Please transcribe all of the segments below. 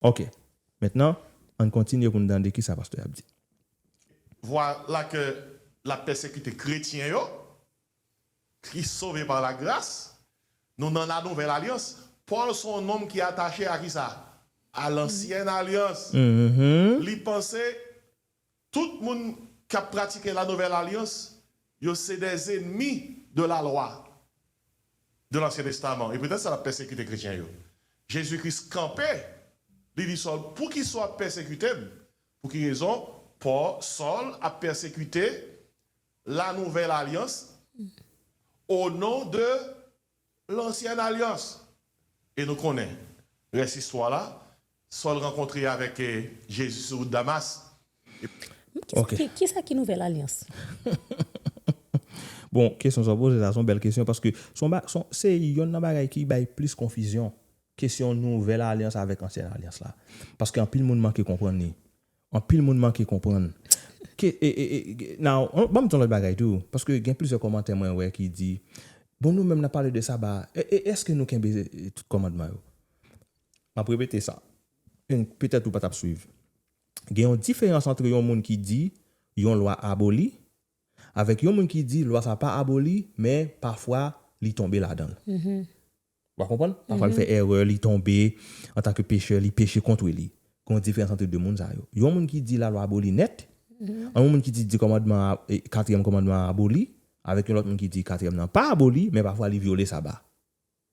Ok. Mentnan, ann kontinye pou n tande kisa pastè a ap di. Voilake l ap pèsekite kretyen yo ki sove par la gras. Nou nan la nouvèl alyans. Pòl se yon nonm ki atache a kisa? A lansyèn alyans. Li panse Tout moun k ap pratike la nouvèl alyans yo se dè zenmi de la lwa de lansyen testaman e poutèt sa l ap pèsekite kretyen yo. Jezi Kris kanpe, li di Sòl, Poukisa w ap pèsekite m? Pou ki rezon Pò, Sòl, ap pèsekite la nouvèl alyans o non de Lansyèn alyans. E nou konnen rès istwa la, Sòl rankontre avèk Jezi sou wout Damas, epi. Ok. Ki sa ki nouvèl alyans? Bon, kesyon sa w poze sa, se yon bèl kesyon paske se yon ba, se yon, se yonn nan bagay ki bay plis konfizyon, kesyon nouvèl alyans avèk ansyèn alyans la. Paske anpil moun manke konprann li. Anpil moun manke konprann. Ke e e e now banm di yon lòt bagay tou paske gen plizyè kòmantè mwen wè ki di bon nou menm nap pale de saba e e eske nou kenbe tout kòmandman yo? Map repete sa en petèt ou patap swiv gen yon diferans antre yon moun ki di yon lwa aboli avèk yon moun ki di lwa sa pa aboli men pafwa li tonbe ladanl Wap konprann? Pafwa li fè erè, li tonbe, antanke pechè, li peche kont wi li. Gen yon diferans antre 2 moun sa yo. Yon moun ki di lalwa aboli nèt, an yon moun ki di 2 kòmandman an, katriyèm kòmandman an aboli, avèk yon lòt moun ki di katriyèm nan pa aboli, men pafwa li vyole saba.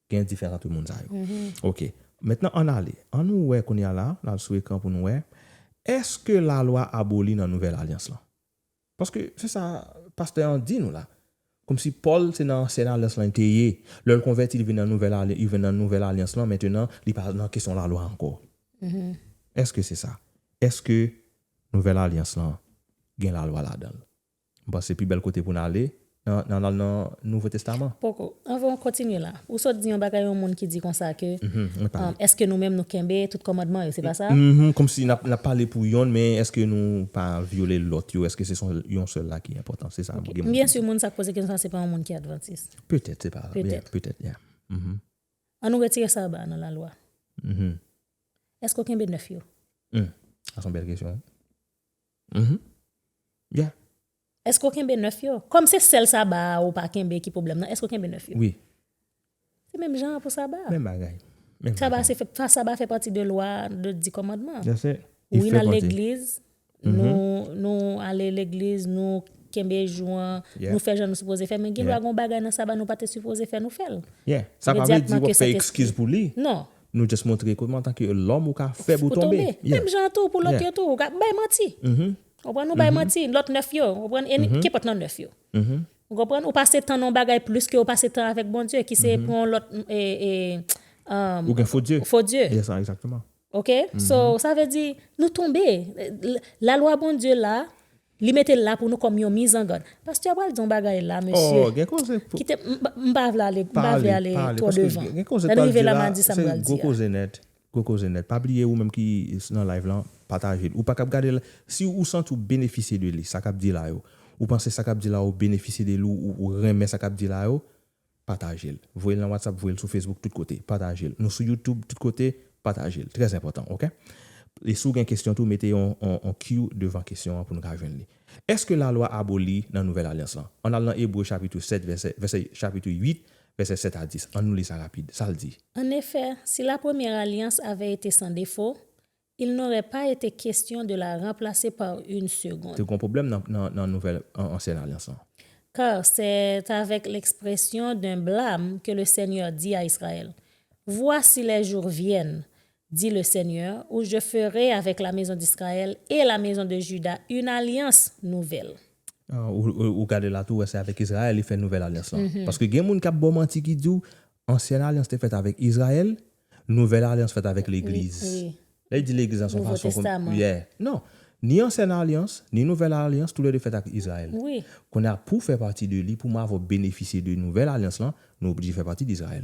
Gen yon diferans antre moun sa yo. Ok. Mentnan ann ale, an nou wè kounye a la, n al sou ekran pou nou wè, èske lalwa aboli nan nouvèl alyans lan? Paske se sa pastè an di nou la. Komsi Pòl se nan ansyen alyans lan li te ye. Lè l konvèti li vin nan nouvèl alyans li vin nan nouvèl alyans lan mentenan li pa nan kesyon lalwa ankò. Èske se sa? Èske nouvèl alyans lan gen lalwa ladan l? M panse pi bèl kote pou n ale Nan nan nan nouvo testaman. Poko. Anvan ou kontinye la. Ou sot di yon bagay yon moun ki di konsa ke Eske nou menm nou kenbe tout kòmandman yo, se pa sa? Mph Kòmsi nap nap pale pou yonn men eske nou pa vyole lòt yo? Eske se son yon sèl la ki enpòtan? Se sa gen moun ki di. Ok. M byen si moun sa k poze kesyon sa se pa yon moun ki advantis. Petèt se pa. Petèt. Petèt ya. Mph. An nou retire saba a nan lalwa. Mph. Eske ou kenbe 9 yo? Mph. Sa son bèl kesyon. Mph. Ya. Eske w kenbe 9 yo? Kòm se sèl Saba a ou pa kenbe ki pwoblèm nan, eske w kenbe 9 yo? Wi. Se menm jan an pou Saba a. Menm bagay. Saba se fè, Saba fè pati de lwa, de di kòmandman. Yes sir. Li fè pati. Wi n al legliz, nou, nou ale legliz, nou kenbe jou an, nou fè jan nou sipoze fè men gen dwa gen yon bagay nan Saba nou pa te sipoze fè nou fè l. Yeah. Sa pa vle di w ap fè ekskiz pou li. Non. Nou just montre ke antanke lòm ou ka fèb ou tonbe. Ou tonbe. Menm jan an tou pou lòt yo tou. Ou ka bay manti. Ou konprann? Ou bay manti. Lòt 9 yo, ou konprann? E ni, kenpòt nan 9 yo. Ou konprann? Ou pase tan nan yon bagay plis ke ou pase tan avèk Bondye, ki se pou yon lòt, e, e, emm. Ou gen fo dye. Fo dye. Yes, sa, egzakteman. Ok? So, sa vle di, nou tonbe. Lalwa Bondye la, Li mete l la pou nou kòm yon mizangann. Pastè a pral di yon bagay la, mesye. Oh, gen koze pou. Kite m, m pa vle ale, m pa vle ale twò devan. Lè n rive la, m a di sa m pral di a. Pale, pale, paske gen koze pou di la, se gwo koze nèt. Gwo koze nèt. Pa bliye ou menm ki nan live lan pataje l. Ou pa kab gade l si ou santi ou benefisye de li sa kap di la yo. Ou panse sa kap di la ou benefisye de li ou renmen sa kap di la yo pataje l. Voye l nan whatsapp voye l sou facebook tout kote pataje l. Nou sou youtube tout kote pataje l. Trè enpòtan ok. E si w gen kesyon tou mete yon yon Q devan kesyon an pou nou ka jwenn li. Eske lalwa aboli nan nouvèl alyans lan? An al nan ebre chapitre 7 vèsè vèsè chapitre 8 Vèsè 7 a 10, annou li sa rapid. Sa l di? En effet, si la première alliance avait été sans défaut, il n'aurait pas été question de la remplacer par une Te seconde. gon pwoblèm nan, nan, nan nouvèl, an, ansyen alyans lan. Car c'est avec l'expression d'un blâme que le Seigneur dit à Israël, Voici les jours viennent, dit le Seigneur, ou je ferai avec la maison d'Israël et la maison de Juda une alliance nouvelle. Ou gade la tou wè se avèk Israël li fè nouvèl alyans lan. Paske gen moun kap baw manti ki diw ansyen alyans te fèt avèk Israël, nouvèl alyans fèt avèk legliz. Lè yo di legliz la son fason pou yo yeah. Non, ni ansyen alyans, ni nouvèl alyans tou lè 2 fèt ak Israël. Kounye a pouw fè pati de li, pou mwen avèw benefisye de nouvèl alyans lan, nou oblije fè pati d'Israël.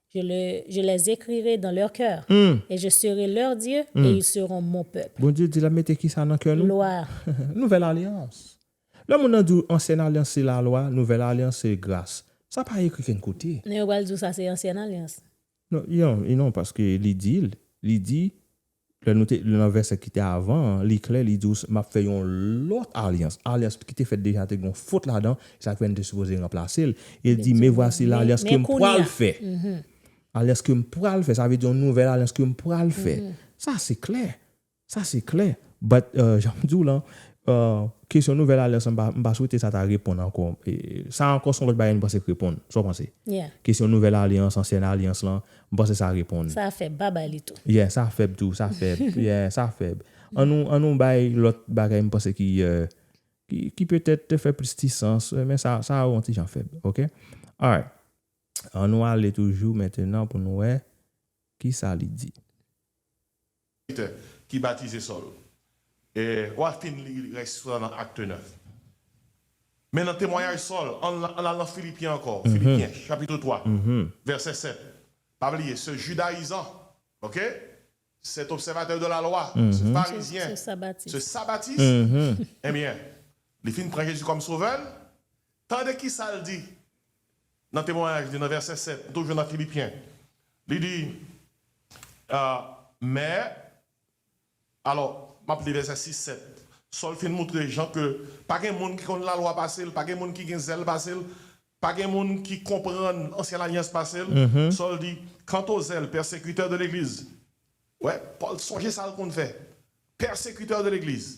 Je les écrirai dans leur cœur, et je serai leur Dieu, et ils seront mon peuple. Bondye di l ap mete kisa nan kè nou? Lwa. Nouvèl alyans. Lè moun nan di w ansyen alyans se lalwa, nouvèl alyans se gras. Sa pa ekri kenn kote. Men yo pral di w sa se ansyen alyans. Non, non paske li di l, li di Lè nou te li nan vèsè ki te avan an, li klè, li di ou s, m ap fè yon lòt alyans. Alyans ki te fèt deja te gen yon fot ladan, e sa k fè n te sipoze ranplase l. E l di, Men vwasi lalyans ke m pral fè. Alyans ke m pral fè, sa vle di yon nouvèl alyans ke m pral fè. Sa se klè. Sa se klè. But, jan m di w lan, kesyon nouvèl alyans lan m pa, m pa swete sa ta reponn ankò. Sa ankò s on lòt bagay nou panse k reponn. Sa w panse? Kesyon nouvèl alyans, ansyèn alyans lan, M panse sa reponn. Sa fèb, pa bay li tou. Yeah, sa fèb tou, sa fèb. Yeah, sa fèb. An nou, an nou bay lòt bagay m panse ki, ki, ki petèt te fè plis ti sans, men sa, sa a on ti jan fèb. Ok? Alright. An nou ale toujou mentenan pou nou wè ki sa li di. Peter ki batize Sòl. E w'a fin li rès frè nan Acte 9. Men nan temwayaj Sòl, ann al nan Filipyen ankò, Filipyen chapitre 3 vèsè 7. Pa bliye, se Judayizan, ok, c'est obsèvatè de la lwa, se Farizyen, se Sabatis. Enbyen, li fin pran Jezi kòm Sovè l, tande ki sa l di. nan temwayaj li nan vèsè 7, nou toujou nan Filipyen, li di, Mè, alò, m ap li vèsè 6, 7, Sòl fin moutre jan ke pa gen moun ki konn Lalwa pase l, pa gen moun ki gen zèl pase l, pa gen moun ki konprann Ansyen Lalyans pase l. Sòl di, Kantozèl, pèsekitè de Legliz. Wè, Pòl sonje sa l konn fè. Pèsekitè de Legliz.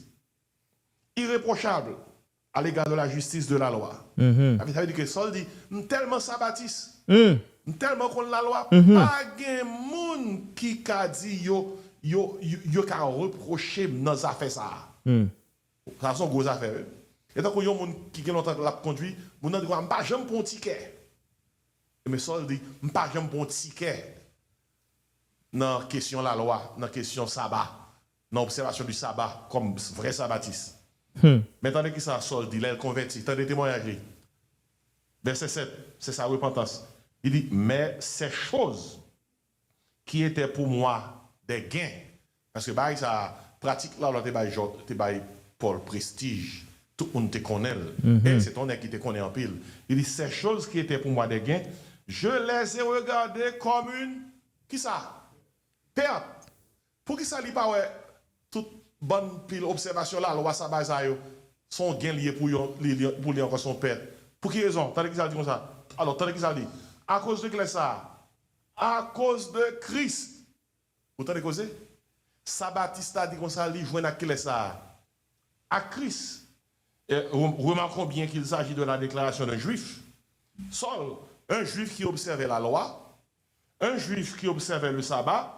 Irepwochab. A l'égard de la justice de la loi. Sa vle di ke Sòl di, M tèlman sabatis, m tèlman konn lalwa, pa gen moun ki ka di yo, yo, yo ka repwoche m nan zafè sa a. Sa se yon gwo zafè wi. E tankou yon moun ki gen lontan l ap kondui, moun nan di konsa, M pa janm pran yon tikè. Ebyen Sòl di, M pa janm pran yon tikè nan kesyon lalwa, nan kesyon saba. Nan obsèvasyon di saba kòm vrè sabatis. Men tande ki sa Sòl di lè l konvèti, tande temwayaj li, vèsè 7, se sa repantans. Li di, Men sè choz ki etè pou mwa dè gen, paske bagay sa a, pratik Lalwa te bay Jòb, te bay Pòl prestij, tout moun te konnen l, e se te yon nèg ki te konnen anpil. Li di, sè choz ki etè pou mwa dè gen, je lèze regade kòm yn, ki sa? Pèt. Poukisa li pa wè tout bann pil obsèvasyon lalwa sa bay sa yo son gen li ye pou yon li li pou li ankò son pèt pou ki rezon tande kisa l di konsa alò tande kisa l di akoz de kilès sa akoz de kris ou tande koze sa batiste la di konsa li jwenn ak kilès sa ak kris e remarquons bien qu'il s'agit de la déclaration d'un juif Saul un juif qui observait la loi un juif qui observait le sabbat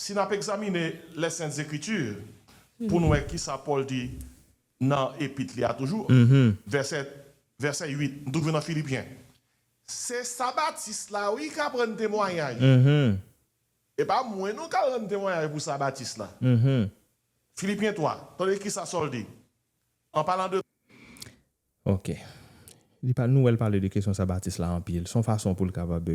Si n ap egzamine lè sent ekriti pou n wè kisa Pòl di nan epit li a toujou, vèsè 8, m toujou nan Filipyen, se sa Batis la wi k ap rann temwayaj, e pa mwen non k al rann temwayaj pou sa Batis la. Filipyen 3, tande kisa Sòl di anpalan de. Ok. Li pa, nou wè l pale de kesyon sa Batis la anpil. S on fason pou l kapab.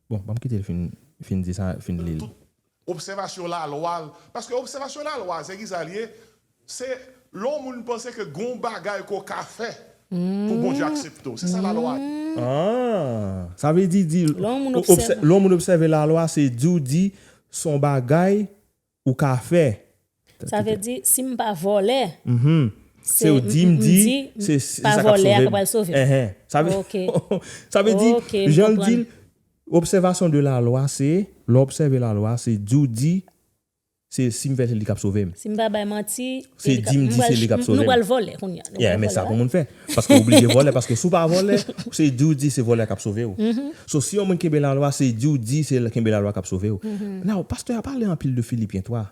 Bon, banm kite l fin, fin di sa, fin li l. Tout obsèvasyon lalwa l. Paske obsèvasyon lalwa a, se ki sa l ye? Se lè yon moun panse ke gen yon bagay ke w ka fè pou Bondye aksepte w. Se sa lalwa a ye. An! Sa vle di, di, lè yon moun obsève lalwa, se di w di s on bagay ou ka fè. Sa vle di si m pa vòlè. Se m di m di se pa vòlè a ki pral sove m. Ok. Sa vle di jan l di l obsèvasyon de lalwa se lè w obsève lalwa se di w di se si m fè se li k ap sove m. Si m pa bay manti. Se di m di se li k ap sove m. Nou pral vòlè kounya. Yè men sa pou moun fè. Paske ou oblije vòlè paske si w pa vòlè se di w di se vòlè kap sove w. So si yon moun kenbe lalwa se di w di se kenbe lalwa kap sove w. Now pastè a pale anpil de Filipyen 3.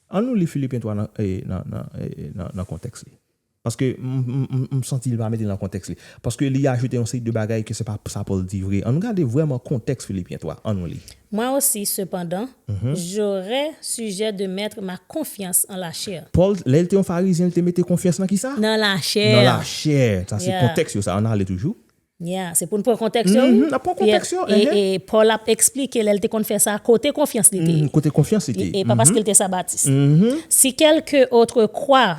An nou li Filipyen 3 nan nan nan kontèks li. Paske m santi li pa mete l nan kontèks li. Paske li ajoute yon seri de bagay ke se pa sa Pòl di vre. An nou gade vrèman kontèks Filipyen 3. An nou li. Mwen osi, sepandan, J'aurais sujet de mettre ma confiance en la chair. Pòl, lè l te yon Farizyen, l te mete konfyans nan kisa? Nan lachè. Nan lachè. Sa se kontèks yo sa. Ann ale toujou. Ya, se pou n pran kontèks yo wi. N ap pran kontèks yo. E, e, Pòl ap eksplike lè l te konn fè sa, kote konfyans li te ye. Kote konfyans li te ye. E pa paske l te Sabatis. Si quelque autre croit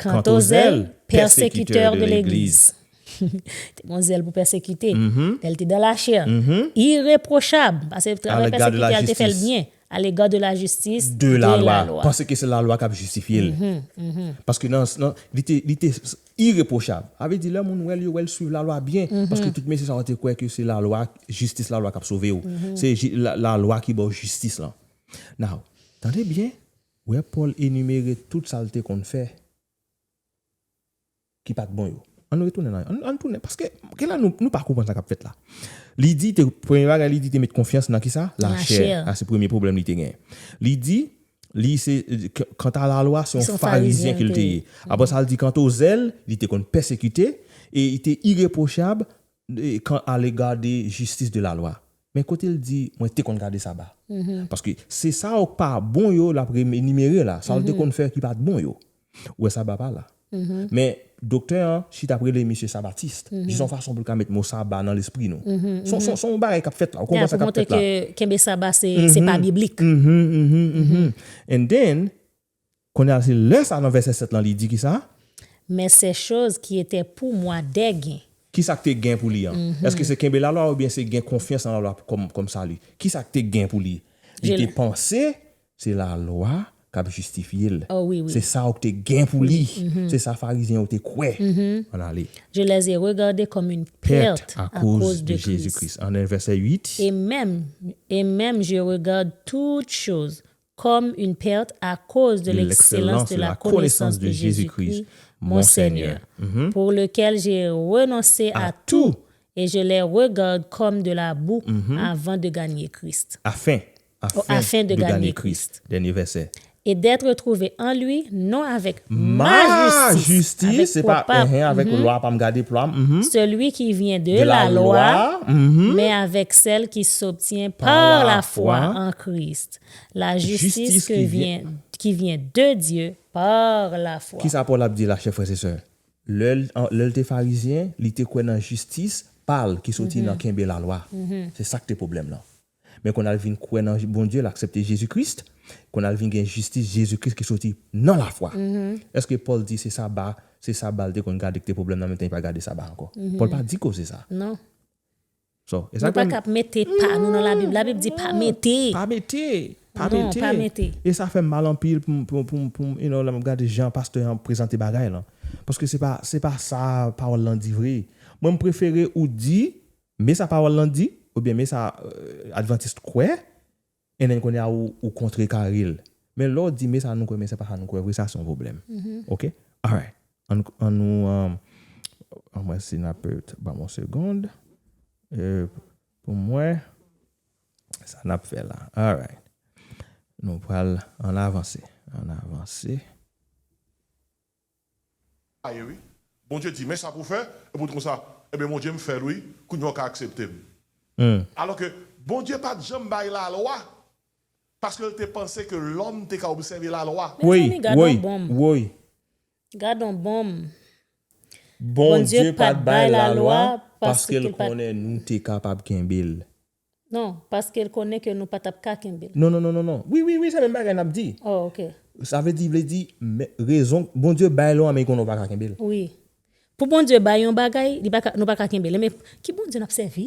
Kant o zèl, pèsekitè de legliz. Te gon zèl pou pèsekite. Lè l te dan lachè. Ireprochab, pase travay pèsekitè a l te fè l byen. Alega de lajistis, de lalwa. Pase ke se lalwa k ap jistifye l. Paske nan, li te ireprochab. Sa vle di lè moun wè l, yo wè l swiv lalwa byen. Paske tout mesye sa yo te kwè ke se lalwa, jistis lalwa k ap sove w. Se lalwa ki ba w jistis lan. Now, tande byen. Wè Pòl enimere tout sa l te konn fè ki pa t bon yo. Ann retounen nan yo. Ann tounen. Paske, gen lè nou pa konprann sa k ap fèt la. Li di, premye bagay li di te met konfyans nan kisa? Lachè. Sa se premye pwoblèm li te genyen. Li di, li se, kanta lalwa, se yon farizyen ke l te ye. Apre sa, li di kanta o zèl, li te konn pèsekite, e li te ireprochab kan alega de jistis de lalwa. Men kote l di mwen te konn gade saba. Paske se sa yo k pa bon yo l ap enimere la, sa l te konn fè ki pa t bon yo. Ou wè saba pa la. Men doktè an chita ap rele misye sabatist, jis yon fason pou l ka met mo saba nan lespri nou. Se yon bagay k ap fèt la, ou konprann sa k ap fèt la. Ya pou montre ke kenbe saba se pa biblik. And then, Kounye a, se lè sa a nan vèsè 7 lan li di ki sa? Men sè choz ki etè pou mwa dè gen. Ki sa k te gen pou li an? Èske se kenbe lalwa oubyen se gen konfyans nan lalwa kòm sali? Ki sa k te gen pou li? Li te panse se lalwa k ap jistifye l. Se sa ou k te gen pou li. Se sa Farizyen yo te kwè. An ale. Je lè zè regade kòm yn pèrt akoz de Jezi Kris. An lè vèsè 8. E menm, e menm je regard toute chose comme une perte à cause de l'excellence de la connaissance de Jésus-Christ, mon Seigneur, pour lequel j'ai renoncé à tout et je l'ai regarde comme de la boue avant de gagner Christ. Afin, afin de gagner Christ. Dènye vèsè. Et d'être trouvé en lui, non avèk ma justice, se pa avèk lwa pa m gade plwa m, celui qui vient de la loi, men avèk sèl ki s'obtient par la foi en Christ. La jistis ke vyen ki vyen de Dye par la fwa. Kisa Pòl ap di la chè frè se sè? Lè l lè l te farizyen, li te kwè nan jistis pa l ki soti nan kenbe lalwa. Se sa k te pwoblèm lan. Men kounye a l vin kwè nan Bondye, l aksepte Jezi Kris, kounye a l vin gen jistis Jezi Kris ki soti nan lafwa. Èske Pòl di se saba se saba l te konn gade ki te pwoblèm lan mentennen li pa gade saba ankò? Pòl pa di koze sa. Nou pa tap mete pa nou nan labib, labib di pa mete. Pa mete, pa mete. Non, pa mete. E sa fèm mal anpil poum, poum, poum, you know, lè map gade jan pastè an prezante bagay lan. Paske se pa, se pa sa pawòl lan di vre. Mwen mprefere ou di, me sa pawòl lan di, oubyen me sa Adventiste kwè, NN konya ou kontre kare l men lè w di me sa nou kwè men se pa sa nou kwè vre sa se yon pwoblèm ok alright an nou an mwen si n ap ban m yon segond pou m wè sa n ap fè la alright nou pral an avanse an avanse. a ye wi Bondye di men sa pou fè epi ou di konsa ebyen Bondye m fèl wi kounya ou ka aksepte m alò ke Bondye pat janm bay lalwa paske l te panse ke lòm te ka obsève lalwa. Mezanmi gadon bonm gadon bonm Bondye pat bay lalwa paske l konnen nou te kapab kenbe l. Non, paske l konnen ke nou pa t ap ka kenbe l. Non, non, non, non, non. Wi, wi, wi, se menm bagay n ap di. Oh, ok. Sa vle di, vle di, men, rezon, Bondye bay lwa, men li konnen ou pa ka kenbe l. Wi. Pou Bondye bay yon bagay, li pa ka, nou pa ka kenbe l. Men, ki Bondye n ap sèvi?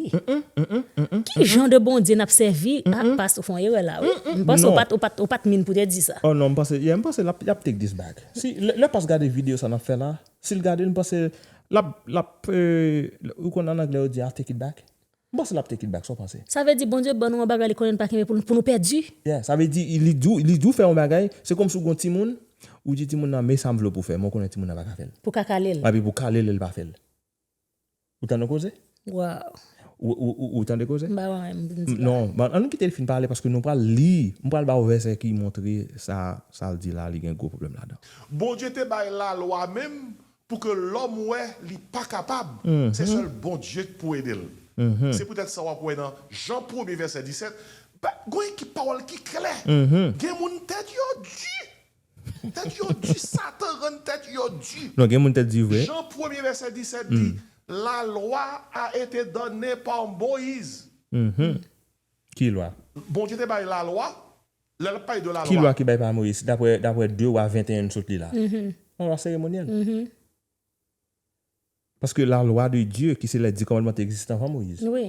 Ki jan de Bondye n ap sèvi? Ah, past, ou fè yon erè la a, wi. M panse ou pa t, ou pa t, ou pa t min pou te di sa. Oh, non, m panse, yeah, m panse l ap, y ap take this back. Si, lè, lè past gade videyo sa n ap fè la, si l gade l, m panse l ap, l ap, euh, ou konn an anglè yo di I'll take it back? M panse lap take it back sa w panse? Sa vle di Bondye ban nou yon bagay li konnen li pa kenbe pou nou pou nou pèdi? Yeah sa vle di li di w li di w fè yon bagay se kòmsi w gen yon timoun ou di timoun nan men sa m vle w pou fè men w konnen timoun nan pa ka fè l. Pou w ka kale l. Epi pou w kale l e l pa fè l. Ou tande koze? Waww. Ou ou tande koze? M pa wè anyen m vin di la. Non an nou kite l fin pale paske nou pral li m pral ba w vèsè ki montre sa sa l di la li gen gwo pwoblèm ladan. Bondye te bay lalwa menm Pou ke lòm wè li pa kapab, se sèl Bondye k pou ede l. Se poutèt sa w ap wè nan Jan premye vèsè 17, ba, gon ekip pawòl ki klè, Gen moun tèt yo di. Tèt yo di, Satan rann tèt yo di. Non, gen moun tèt di vre. Jan premye vèsè 17 di, La lwa a ete donne par Moïse. Ki lwa? Bondye te bay lalwa, Lè lap pale de la Ki lwa. lwa ki bay pa Moïse daprè daprè 2 wa 21 n sot li la? Yon lwa seremonyèl. Paske la lwa de Dye ki se lè 10 kòmandman te egziste anvan Moïse. Wi.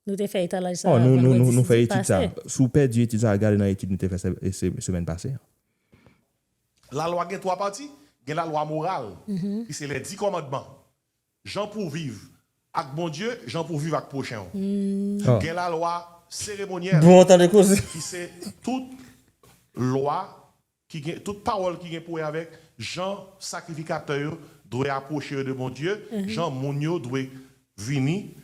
Nou te fè etalaj sa a Oh nou nou nou vendredi nou fè etid sa pase. a. Si w pèdi etid sa a gade nan etid nou te fè se se semèn pase an. La lwa gen 3 pati, gen la lwa moral ki se lè 10 kòmandman Jan pou viv ak Bondye, jan pou viv ak pwochen w. Gen lalwa seremonyèl ki se tout lwa, tout pawòl ki gen pou wè avèk jan sakrifikatè yo dwe apwoche yo de Bondye, jan moun yo dwe vini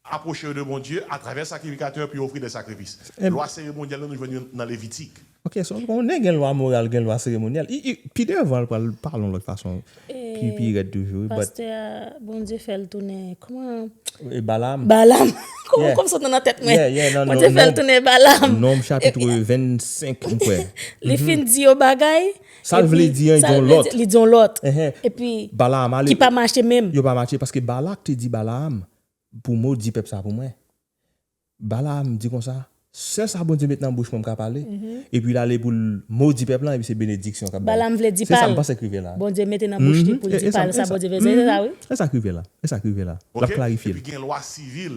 Apwoche yo de Bondye atravè sakrifikatè pou yo ofri de sakrifis. Lwa seremonyèl yo nou jwenn yo nan Levitik. Ok, so on nen gen lwa moral, gen lwa seremonyèl. I, i, pi devan l pral pale yon lòt fason pi, pi rèd toujou wi, but. Pastè a, Bondye fè l tounen, kouman. E Balaam. Balaam. Kouman kòm sot nan nan tèt mwen. Yeah, yeah, nan Nonb. Bondye fè l tounen Balaam. Nonb chapitre 25 m kwè. Li fin di yon bagay. Sa l vle di an, li di yon lòt. Li di yon lòt. Epi. Balaam ale. Ki pa mache menm. Yo pa mache paske Balak te di Balaam, Pou mou di pèp sa pou mwen. Balaam di konsa, Sèl sa Bondye met nan bouch mwen m ka pale. Epi l ale pou l modi pèp lan, epi se benediksyon k ap bay. Balaam vle di pa l, Bondye mete nan bouch li pou l di pa l sa Bondye vle di. Se sa wi. E sa k rive la. E sa k rive la. L ap klarifye l. Epi gen lwa sivil.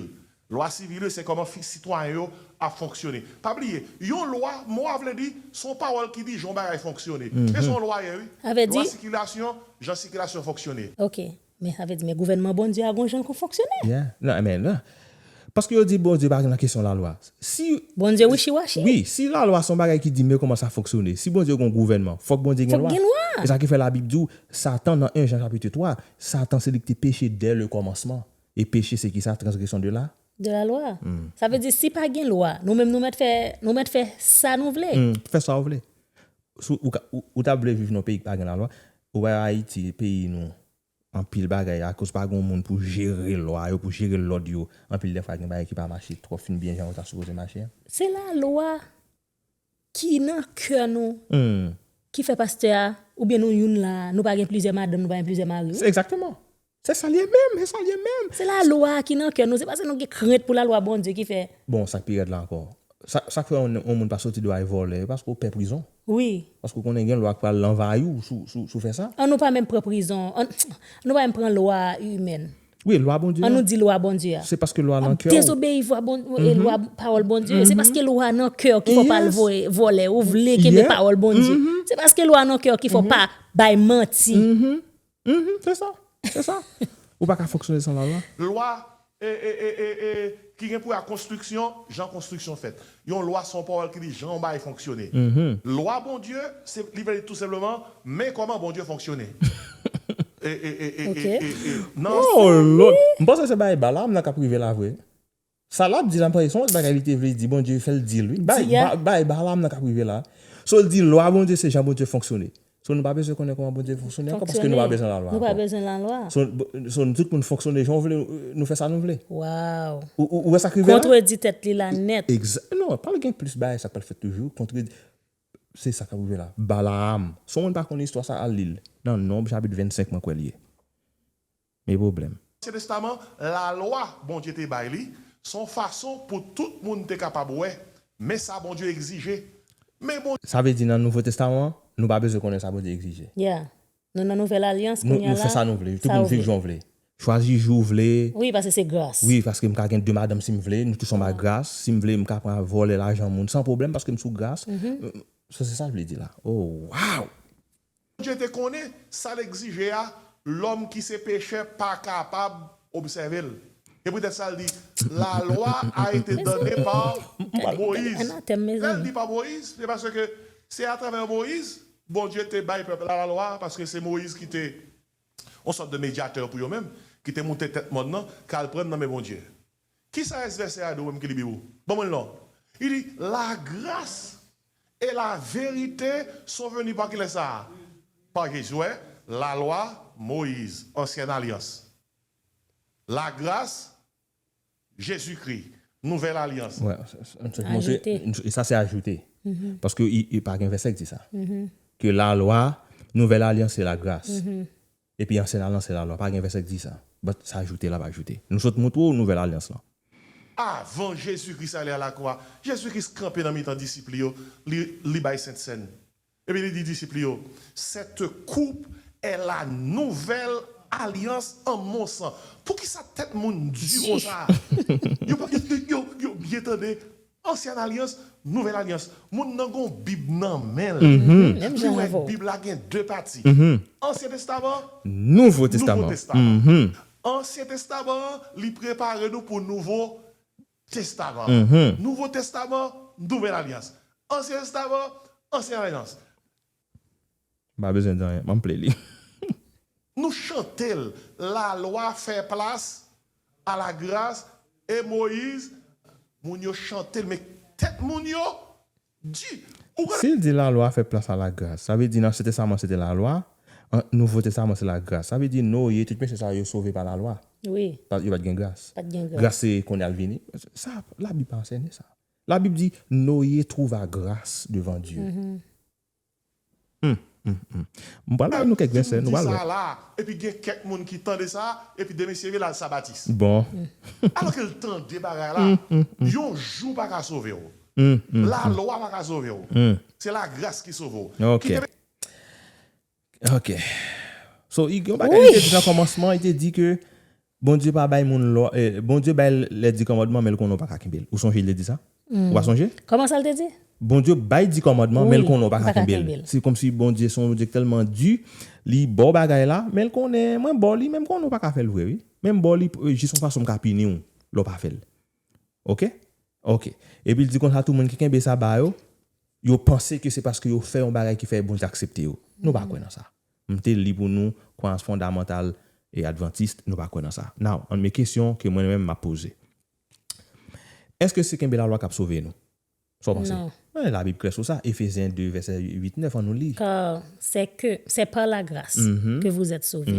Lwa sivil yo se kòman sitwayen yo ap fonksyone. Pa bliye, yon lwa, mo a vle di, se yon pawòl ki di jan yon bagay fonksyone. E se yon lwa ye wi. Lwa sikilasyon, jan sikilasyon fonksyone. Ok. Men sa vle di men gouvènman Bondye a gon jan l kon fonksyone. Yeah amen nan paske yo di Bondye pa nan kesyon lalwa si Bondye wichi wachi. Wi si lalwa son bagay ki di men kòman sa fonksyone si Bondye gon gouvènman fòk Bondye gen lwa e sa ki fè la bib di w satan nan 1 Jan chapitre 3 satan se li ki te peche dè le kòmansman e peche se kisa transgresyon de la de la lwa sa vle di si pa gen lwa nou menm nou mèt fè nou mèt fè sa nou vle. Fè sa w vle Si ou ta vle viv nan peyi ki pa gen lalwa, ou wè Ayiti peyi nou anpil bagay akoz pa gen yon moun pou jere lwa yo, pou jere lòd yo, anpil dè fwa gen bagay ki pa mache twò fin byen jan yo ta sipoze mache a. Se lalwa ki nan kè nou ki fè pastè a oubyen nou youn la a, nou pa gen plizyè madanm, nou pa gen plizyè mari. Se egzakteman. Se sa l ye menm, se sa l ye menm. Se lalwa a ki nan kè nou, se pase nou gen krent pou lalwa Bondye ki fè. Bon, sa k pi rèd la ankò, sa k fè yon moun pa soti dò a e vòlè, e paske w pè prizon. Wi. Paske w konnen gen lwa k pral lanvayi w si w fè sa. An nou pa menm pran prizon, an nou pa menm pran lwa imèn. Wi, lwa Bondye a. An nou di lwa Bondye a. Se paske lwa nan kè w. Ap dezobeyi vwa Bondye e lwa pawòl Bondye e se paske lwa nan kè w ki fè w pa al vòlè, ou vle kenbe pawòl Bondye. Se paske lwa nan kè w ki fè w pa bay manti. Mph se sa se sa ou pa ka fonksyone san la lwa. Lwa e e e e e ki gen pou wè ak konstriksyon jan konstriksyon fèt yon lwa se yon pawòl ki di jan yon bagay fonksyone lwa Bondye se li vle di tou senpleman men kòman Bondye fonksyone e e e e e e e nan. Ohh lòd! M panse se bay bala m nan kap rive la vre. Sa lap di la mpa son lòt bagay li te vle di Bondye fèl dil wi bay Balaam nan kap rive la so l di lwa Bondye se jan Bondye fonksyone so nou pa bezwen konnen kòman Bondye fonksyone ankò paske nou pa bezwen la lwa ankò so tout moun fonksyone jan yo vle nou fè sa nou vle ou wè sak rive la kontredi tèt li la nèt non pral gen plis bagay sa pral fèt toujou kontredi se sa kap rive la Balaam si w moun pa konnen istwa sa al li l nan Nonb chapit 25 mwen kwè l ye. Me pwoblèm. Ansyen Testaman, Lalwa Bondye te bay li se yon fason pou tout moun te kapab wè men sa Bondye egzije. Men bon. Sa vle di nan Nouvo Testaman an, nou pa bezwen konnen sa Bondye egzije. Yeah. Nou nan Nouvèl Alyans kounye a la. Nou fè sa nou vle. Tout moun viv jan w vle. Chwazi jou w vle. Wi, paske se gras. Wi, paske m ka gen de madanm si m vle. Nou tout son ba gras. Si m vle, m ka pran al vòlè lajan moun san pwoblèm paske m sou gras. So se sa l vle di la. Oh, wow! Bondye te konnen sa l egzije a lòm ki se pechè pa kapab obsève l. Se poutèt sa l di, La lwa a ete donne par Moïse. Lè l di pa Moïse, se paske se atravè Moïse Bondye te bay pèp la lalwa a, paske se Moïse ki te yon sòt de medyatè pou yo menm, ki te moute tèt mòn nan, k al pran nan men Bondye. Ki sa est vèsè a do wè m ki li biwo? Ban mwen l non. Li di, La gras e la verite son veni pa kilè sa a? Pa Jezi. Ou wè? Lalwa Moyiz, Ansyèn Alyans. La gras, Jezi Kri, Nouvèl Alyans. Ajoute. E sa se ajoute. Paske pa gen vèsè ki di sa. Ke lalwa Nouvèl Alyans se la gras. Epi ansyen alyans se lalwa. Pa gen vèsè k di sa. But sa ajoute l ap ajoute. Nou sot montre w nouvèl alyans lan. Avan Jezi Kris ale alakwa, Jezi Kris kanpe nan mitan disip li yo, li li bay Sent Sèn. Epi li di disip li yo, Sète koup è la nouvèl alyans an mon san. Poukisa tèt moun di konsa a? Yo pa yo yo yo byen tande Ansyen alyans, nouvèl alyans. Moun nan gon bib nan menl. Li wè bib la gen 2 pati. Ansyen testaman, nouvo testaman. Ansyen testaman an li prepare nou pou nouvo testaman an. Nouvo testaman, nouvèl alyans. Ansyen testaman, ansyen alyans. M pa bezwen di anyen, m anple li. Nou chante l, Lalwa fè plas a lagras e Moyiz, moun yo chante l men tèt moun yo di. Ou konnen. Si l di Lalwa fè plas a lagras, sa vle di nan Ansyen Testaman se te Lalwa, nan Nouvo Testaman se lagras. Sa vle di Noye, tout mesye sa yo, yo sove pa Lalwa. Wi. Yo pa t gen gras. Pa t gen gras. Gras se konn y ap vini. Sa, Labib pa ansène sa. La bib di Noye trouva gras devan Dye. Hum hum hum m pral bay nou kèk vèsè nou pral wè. Epi gen kèk moun ki tande sa epi demen se vle al sa batis. Bon. Alò ke l tande bagay la. Yon jou pa ka sove w. Lalwa pa ka sove w. Se lagras ki sove w. Ok. Ok. So, yon bagay li te di nan kòmansman, li te di ke Bondye pa bay moun lwa, Bondye bay lè di kòmandman men l konnen w pa ka kenbe l. Ou sonje li te di sa? Ou pa sonje? Kòman sa l te di? Bondye bay di kòmandman men l konnen w pa ka kenbe l. Se kòmsi Bondye se yon Bondye ki tèlman di, li ba w bagay la, men l konnen mwen ba w li men m konnen w pa ka fè l vre wi. Men m ba w li jis yon fason m ka pini w lè w pa fè l. Ok ok epi l di konsa tou moun ki kenbe sa ba yo yo panse ke se paske yo fè yon bagay ki fè Bondye aksepte yo nou pa kwè nan sa m te li pou nou kwayans fondamantal e adventiste nou pa kwè nan sa now an men kesyon ke mwen menm m ap poze èske se kenbe lalwa k ap sove nou sa w panse men la bib klè sou sa Ephésiens 2 verset 8 9 an nou li car c'est que c'est par la grâce que vous êtes sauvés.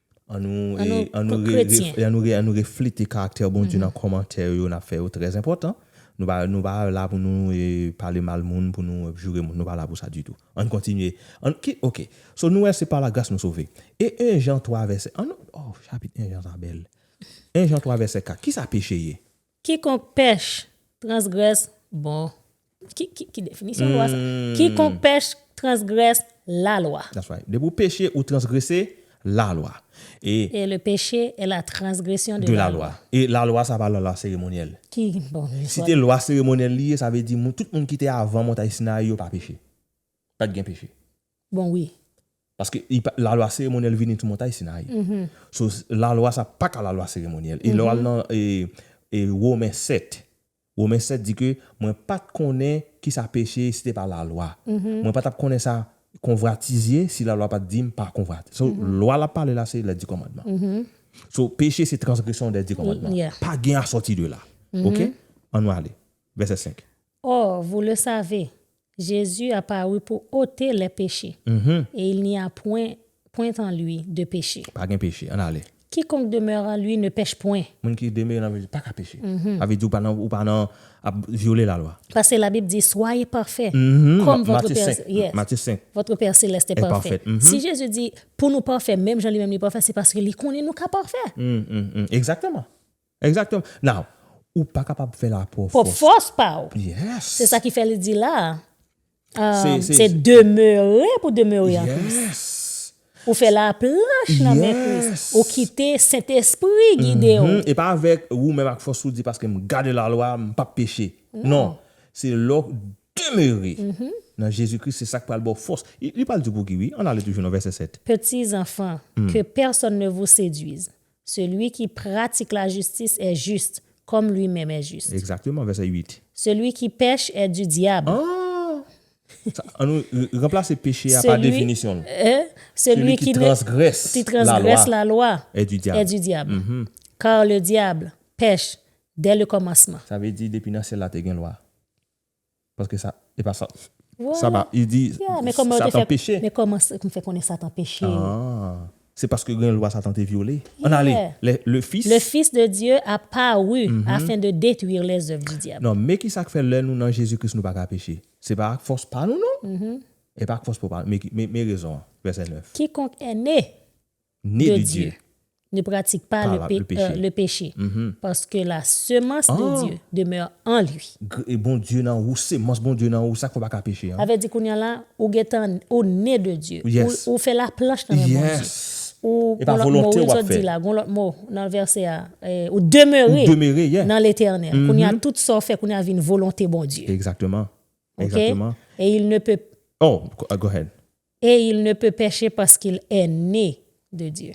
An nou reflete karaktè Bondye nan kòmantè yo n ap fè yo, trè enpòtan. Nou pa la pou nou pale mal moun, pou nou joure moun, nou pa la pou sa ditou. An n kontinye. Ok, so nou wè se pa lagras nou sove. E 1 Jan 3 vèsè, an nou, o chapit 1 Jan sa bèl. 1 Jan 3 vèsè 4, ki sa peche ye? Kikonk pèch, transgrès, bon, ki definisyon lwa sa? Kikonk pèch, transgrès, lalwa. That's right. Depi ou peche, ou transgrese lalwa. E. Et le péché est la transgression de la loi. De la loi. E lalwa sa pa lalwa seremonyèl. Ki, bon, li. Si te lwa seremonyèl li ye, sa vle di moun, tout moun ki te avan montay Sinayi yo pa peche. Pat gen peche. Bon wi. Paske la lwa seremonyèl vini sou montay Sinayi. So la lwa sa pa ka la lwa seremonyèl. E lè w al nan Women 7, Women 7 di ke mwen pa t konnen ki sa peche ye si te pa la lwa. Mwen pa t ap konnen sa konvwatiz ye si la lwa pa t di m pa konvwatiz. So lwa l ap pale la se lè di kòmandman. So peche se transgresyon dè di kòmandman. Pa gen asòti de la. Ok? An nou ale. Vèsè 5. Or, vous le savez, Jésus a paru pour ôter les péchés, et il n'y a point, point en lui, de péché. Pa gen peche, ann ale. Quiconque demeure en lui ne pèche point. Moun ki demere nan Jezi pa ka peche. Sa vle di ou pa nan, ou pa nan ap vyole lalwa. Paske labib di, Soyez parfaits, comme votre Père, Matthieu 5, yes, Matthieu 5. votre Père Céleste est Est parfait. parfait, mhm. Si Jezi di pou nou pafè menm jan li menm li pafè, se paske li konnen nou ka pafè. Exactement. Exactement. Now, ou pa kapab fè la pwòp fòs. Pwòp fòs pa ou. Yes. Se sa ki fè li di la a, se demeure pou demeure an Kris. Yes. Ou fè la planche nan men Kris. Yes. Ou kite Sentespri gide ou. Mh-mh. E pa avèk ou menm ak fòs ou di paske m gade la lwa, m pap peche. Non. Se lè w demeure nan Jezi Kris, se sa k pral ba w fòs. Li pral di w pou ki wi. Ann ale toujou nan vèsè 7. Petits enfants, que personne ne vous séduise. Celui qui pratique la justice est juste, comme lui-même est juste. Exactement, verset 8. Celui qui pèche est du diable. Ah! An nou ranplase peche a pa definisyon l. Celui qui transgresse la loi est du diable. Car le diable pèche dès le commencement. Sa vle di depi nan syèl la te gen lwa. Paske sa, e pa sa. Sa pa, li di, Satan peche. Men kòman sa, kòman ou fè konnen Satan peche? Aah! Se paske gen yon lwa Satan te vyole. Ann ale, lè le Fis. Le Fis de Dye a paru afin de detruire les oeuvres du diable. Non, men ki sa k fè lè nou nan Jezi Kris nou pa ka peche? Se pa ak fòs pa nou non. E pa ak fòs pa nou. Men rezon an, vèsè 9. Kikonk è ne. ne de Dieu, ne pratique pas le péché, paske la semence de Dieu demeure en lui. Gre Bondye nan ou, semans Bondye nan ou, sak fè w pa ka peche an? Sa vle di kounya la ou gentan ou ne de Dye, ou fè laplanch nan men Bondye, ou gon lòt mo wi zòt di la, gon lòt mo nan vèsè a, ou demere nan letènèl, kounya tout sa w fè kounya vin volonte Bondye. Exactement, exactement. Ok, et il ne peut. Oh, go ahead. Et il ne peut pecher parce qu'il est né de Dieu.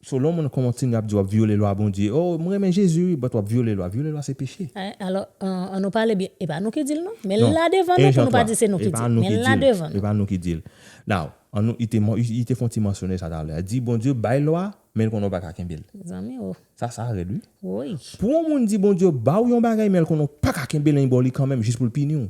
So lè yon moun kontinye ap di wap vyole lwa Bondye oh m renmen Jezi wi but wap vyole lwa vyole lwa se peche. Alò an nou pale byen epa nou ki dil non men li la devan nou pou nou pa di se nou ki dil men li la devan nou. Epa nou ki dil now an nou li te fon ti mansyone sa talè a di Bondye bay lwa men l konnen w paka kenbel Zanmi oh. Sa sa rèd wi. Woyy. Pou yon moun di Bondye baw yon bagay men l konnen w paka kenbel anyn baw li kanmenm jis pou l pini w.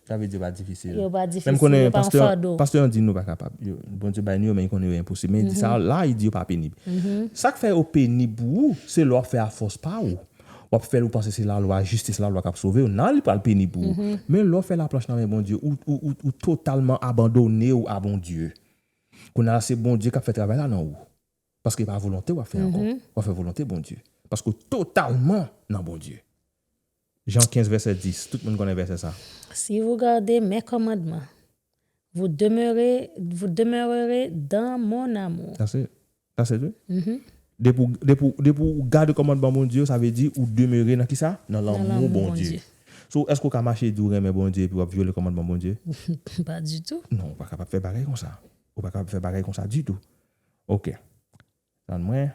Sa vle di yo pa difisil. Yo pa difisil, yo pa yon fado. Menm konnen pastè an di nou pa kapab. Bondye bay nou yo men li konnen yo enposib. Men li di sa la, li di yo pa penib. Sa k fè yo penib pou ou, se lè w ap fè a fòs pa ou. W ap fè l ou panse se lalwa, jistis lalwa k ap sove w, nan li pral penib pou ou. Men lè w fè laplanch nan men Bondye, ou totalman abandone w a Bondye. Kounye a se Bondye k ap fè travay la nan ou. Paske e pa volonte w ap fè ankò. W ap fè volonte Bondye. Paske w totalman nan Bondye. Jan 15 vèsè 10, tout moun konnen vèsè sa. Si vous gardez mes commandements, vous demeurez, vous demeurerez dans mon amour. That's it. That's it wi. Depi ou, depi ou, depi ou gade kòmandman Bondye yo, sa vle di ou demere nan kisa? Nan lanmou Bondye. So, èske ou ka mache di ou renmen Bondye epi w'ap vyole kòmandman Bondye? Pas du tout. Non, ou pa kapab fè bagay konsa. Ou pa kapab fè bagay konsa ditou. Ok. Tann mwen.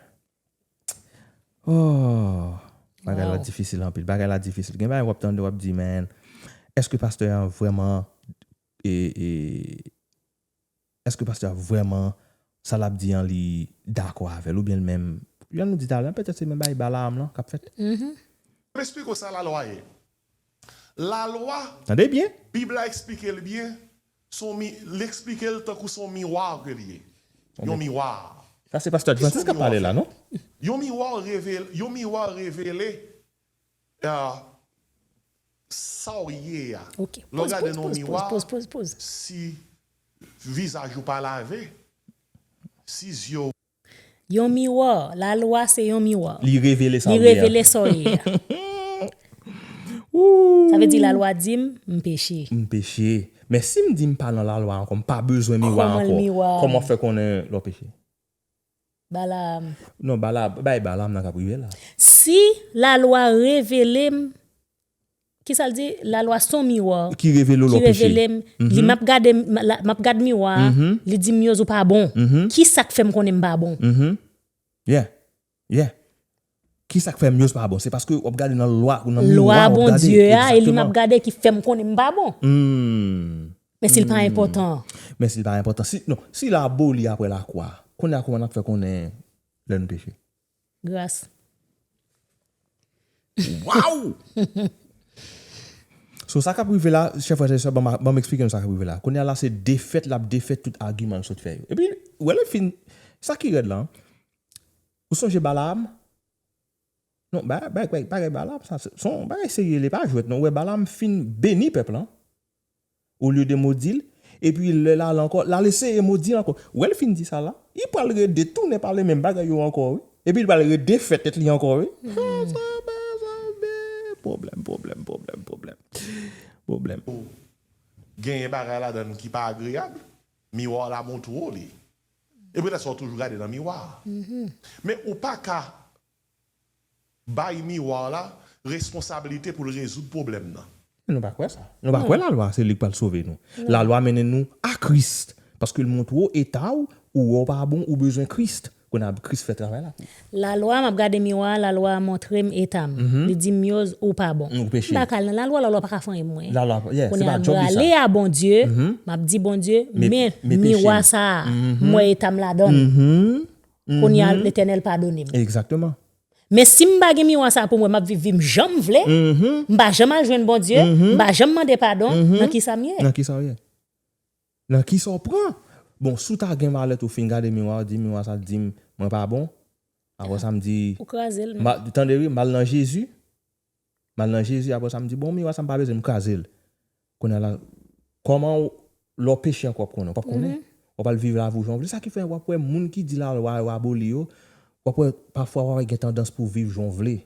Oohh. Bagay la difisil anpil. Bagay la difisil. Gen bagay wap tande wap di men. Eske pastè a vreman. Eske pastè a vreman. Sa lap di an li dako avel. Ou byen menm. Jan nou di talen. Petèt se menm bagay bala am lan kap fet. Map esplike w sa la lwa ye. La lwa. Tande byen. Bib la esplike l byen. Son mi li eksplike l tankou son miwa ke li ye. Yon miwa. Sa se pastè Adventiste kap pale la non. Yon miwa revele yon miwa revele sa w ye a. Lè w gade nan yon miwa si vizaj ou pa lave, si zye w. Yon miwa, la lwa se yon miwa. Li revele sa w ye a. Li revele sa w ye a. Sa vle di la lwa di m, m peche. M peche. Men si m di m pa nan la lwa ankò, m pa bezwen miwa ankò. Kòman l miwa a? Kòman w fè konnen lè w peche? Balaam. Non, Balaam, bay Balaam nan k ap rive la. Si la lwa revele m Ki sa l di? La lwa s on miwa. Ki revele w lè w peche. Ki revele m. Li m ap gade m, m ap gad miwa a, li di m Myoz ou pa bon. Ki sa k fè m konnen m pa bon? Yeah. Yeah. Ki sa k fè Myoz pa bon? Se paske w ap gade nan lwa, nan miwa a w ap gade. Lwa Bondye a e li m ap gade ki fè m konnen m pa bon. Men si l pa enpòtan an? Men si l pa enpòtan. Si, non, si l aboli apre lakwa, kounye a kouman n ap fè konnen lè n peche? Gras. Waww! So sa kap rive la, chè frè chè sè, banm eksplike nou sa kap rive la. Kounya la se defèt lap defèt tout agiman l sot fè yo. Epi, ou wè lè l fin, sa ki rèd lan, ou sonje Balaam? Non, bagay Balaam sa, son bagay serye li pa jwèt non. Ou wè Balaam fin beni pèp lan. Olye de modi l, epi lè l ale ankò, l al eseye modi l ankò. Wè l fin di sa la, li pral rede tounen pale menm bagay yo ankò wi. Epi l pral rede fè tèt li ankò wi. Pwoblèm, pwoblèm, pwoblèm, pwoblèm, pwoblèm. Ou genyen bagay ladan l ki pa agreyab. Miwa w la montre w li. E petèt sa w toujou gade nan miwa a. Men ou pa ka bay miwa la responsabilite pou l rezoud pwoblèm nan. Men nou pa kwè sa. Nou pa kwè lalwa se li k pral sove nou. Lalwa mennen nou a Kris, paske l montre w eta w, ou wè w pa bon, ou bezwen Kris. Kounye a Kris fè travay la pou ou. Lalwa, m ap gade miwa a, lalwa a montre m eta m. Li di m Yoz, ou pa bon. Ou peche. M pa ka al nan lalwa, lalwa pa ka fanyen mwen. Lalwa, yeah, se pa djòb li sa. Kounye a m prale a Bondye, m ap di Bondye, men miwa sa a, m wè eta m ladan l. Kounye a Letènèl padone m. Exactement. Men si m pa gen miwa sa pou m wè m ap viv vi m jan m vle, m pa janm al jwenn Bondye, m pa janm mande padon, nan ki sa m ye? Nan ki sa w ye? Nan ki sa w pran? Bon, si w ta gen malèt ou fin gade miwa, w di miwa sa di m mwen pa bon, aprè sa m di, tande wi, m al nan Jezi. M al nan Jezi apre sa m di, Bon, miwa sa m pa bezwen, m kraze l. Kounye a la, kòman w, lè w peche ankò w ap konnen? W pap konnen. W ap al viv lavi w jan w vle. Sa ki fè w ap wè moun ki di lalwa yo aboli yo, w ap wè pafwa w ap gen tandans pou w viv jan w vle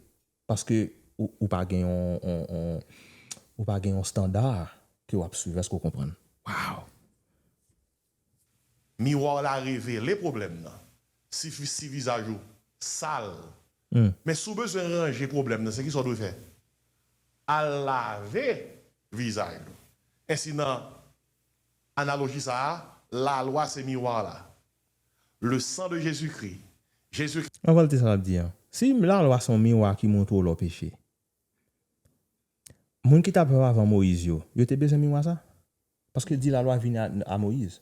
paske ou pa gen yon, ou pa gen yon standa ke w ap swiv. Èske w konprann? Waw! Miwa w la revele pwoblèm nan. Sifi si vizaj ou sal. Men si w bezwen ranje pwoblèm nan, se kisa w dwe fè? Al lave vizaj ou. Ensi nan analoji sa a, lalwa se miwa la. Le sang de Jésus-Christ, Jezi. An reyalite sa l ap di an, si lalwa se yon miwa ki montre w lè w peche, moun ki t ap viv avan Moyiz yo, yo te bezwen miwa sa? Paske l di lalwa vini a Moyiz.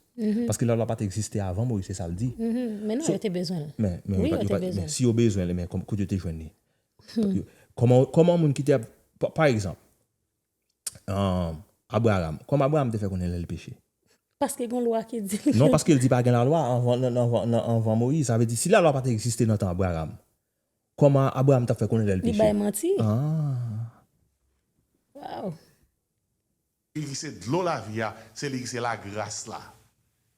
Paske lalwa pa t egziste avan Moyiz, se sa l di. Men non, yo te bezwen l. Men, yo pa te bezwen l. Si yo bezwen l, men kote yo te jwenn li? Kòman moun ki te ap, pa egzanp, Abraram, kòman Abraram te fè konnen lè l peche? Paske gen yon lwa ki di. Non, paske l di pa gen lalwa anvan Moyiz. Sa vle di si lalwa pa te egziste nan tan Abraram, kòman Abraram t ap fè konnen lè l peche? Li bay manti. Waww! Li ki se dlo lavi a, se li ki se lagras la.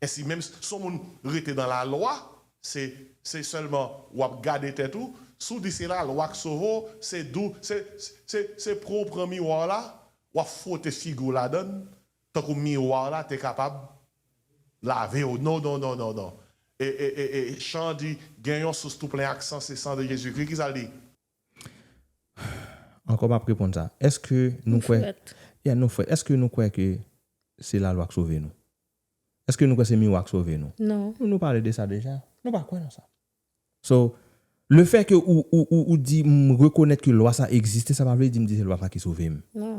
Ensi menm, si w moun rete nan lalwa, se se sèlman w ap gade tèt ou, si w di se lalwa k sove w, se dou, se se se pran w pran miwa w la, w ap fwote figi w ladan l, tankou miwa w la te kapab lave w. Non, non, non, non, non. E e e e chan an di, gen yon sous tou plen ak san, se san de Jezikri. Ki sa l di? Ankò map reponn sa, èske nou kwè, ya nou frèt, èske nou kwè ke se lalwa k sove nou? Èske nou kwè se miwa k sove nou? Non. Nou pale de sa deja, nou pa kwè nan sa. So, le fè ke ou, ou, ou, ou di m rekonèt ke lwa sa egziste sa pa vle di m di se lwa sa ki sove m. Non.